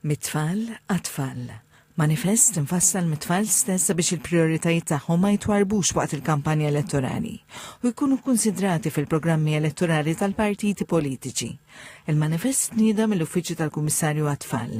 Mit-tfal għat-tfal, manifest imfassal mit-tfal stess sabiex il-prijoritajiet tagħhom ma jitwarrbux waqt il-kampanja elettorali u jkunu kkunsidrati fil-programmi elettorali tal-partiti politiċi. Il-manifest tnieda mill-Uffiċċju tal-Kummissarju għat-Tfal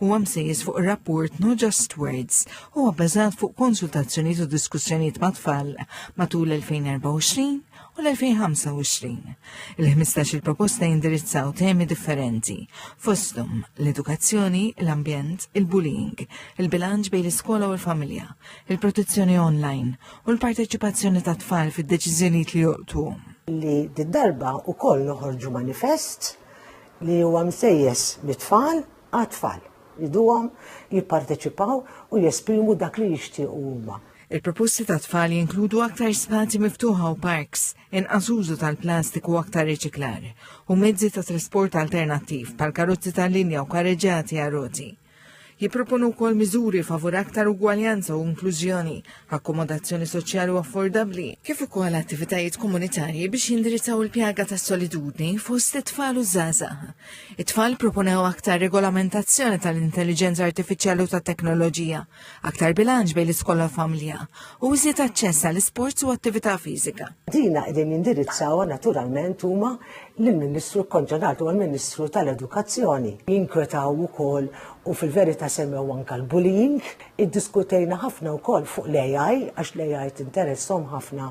huwa msejjes fuq ir-rapport No Just Words huwa bbażat fuq konsultazzjonijiet u diskussjonijiet mat-tfal matul 2024 u l-2025. Il-15 il-proposta jindirizzaw temi differenti, fosthom l-edukazzjoni, l-ambjent, il-bullying, il-bilanċ bejn l-iskola u l-familja, il-protezzjoni online u l-parteċipazzjoni ta' tfal fid-deċiżjonijiet li joqtu. Li d-darba u koll noħorġu manifest li huwa msejjes mit-tfal għat-tfal, jgħiduhom jipparteċipaw u jesprimu dak li jixtiequ huma. Il-proposti tat-tfal jinkludu aktar spazji miftuħa u parks, inqas użu tal-plastik u aktar riċiklar, u mezzi ta' trasport alternattiv bħal karozzi tal-linja u karreġġati għar-roti. Jipproponu wkoll miżuri favur aktar ugwaljanza u inklużjoni akkomodazzjoni soċjali u affordabbli, kif ukoll attivitajiet komunitarji biex jindirizzaw il-pjaga ta' solitudni fost it-tfal u żgħażagħ. It-tfal proponew aktar regolamentazzjoni tal-intelligenza artifiċjali u tat-teknoloġija, aktar bilanċ bejn l-iskola u familja u iżjed aċċess għal isports u attività fiżika. Dina qegħdin jindirizzaw naturalment huma l-Ministru kkonċernat u l-Ministru tal-Edukazzjoni. Jinkwetaw ukoll u fil-verità semmew anke l-bullying Iddiskutejna ħafna wkoll fuq l-AI għax l-AI tinteresshom ħafna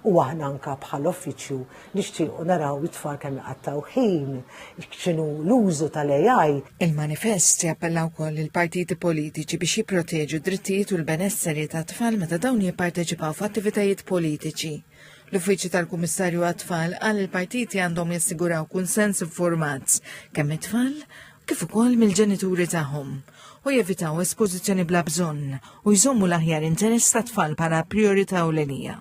u aħna anke bħala uffiċċju nixtiequ naraw it-tfal kemm iqattgħu ħin, x'inhu l-użu tal-AI. Il-manifest jappella wkoll lill-partiti politiċi biex jipproteġu d-drittijiet u l-benesseri tat-tfal meta dawn jipparteċipaw f'attivitajiet politiċi. L-Uffiċċju tal-Kummissarju għat-Tfal qal li l-partiti għandhom jassiguraw kunsens infurmat kemm mit-tfal kif ukoll mill-ġenituri tagħhom. u jevitaw espożizzjoni bla bżonn u jżommu l-aħjar interess tat-tfal bħala prijorità ewlenija.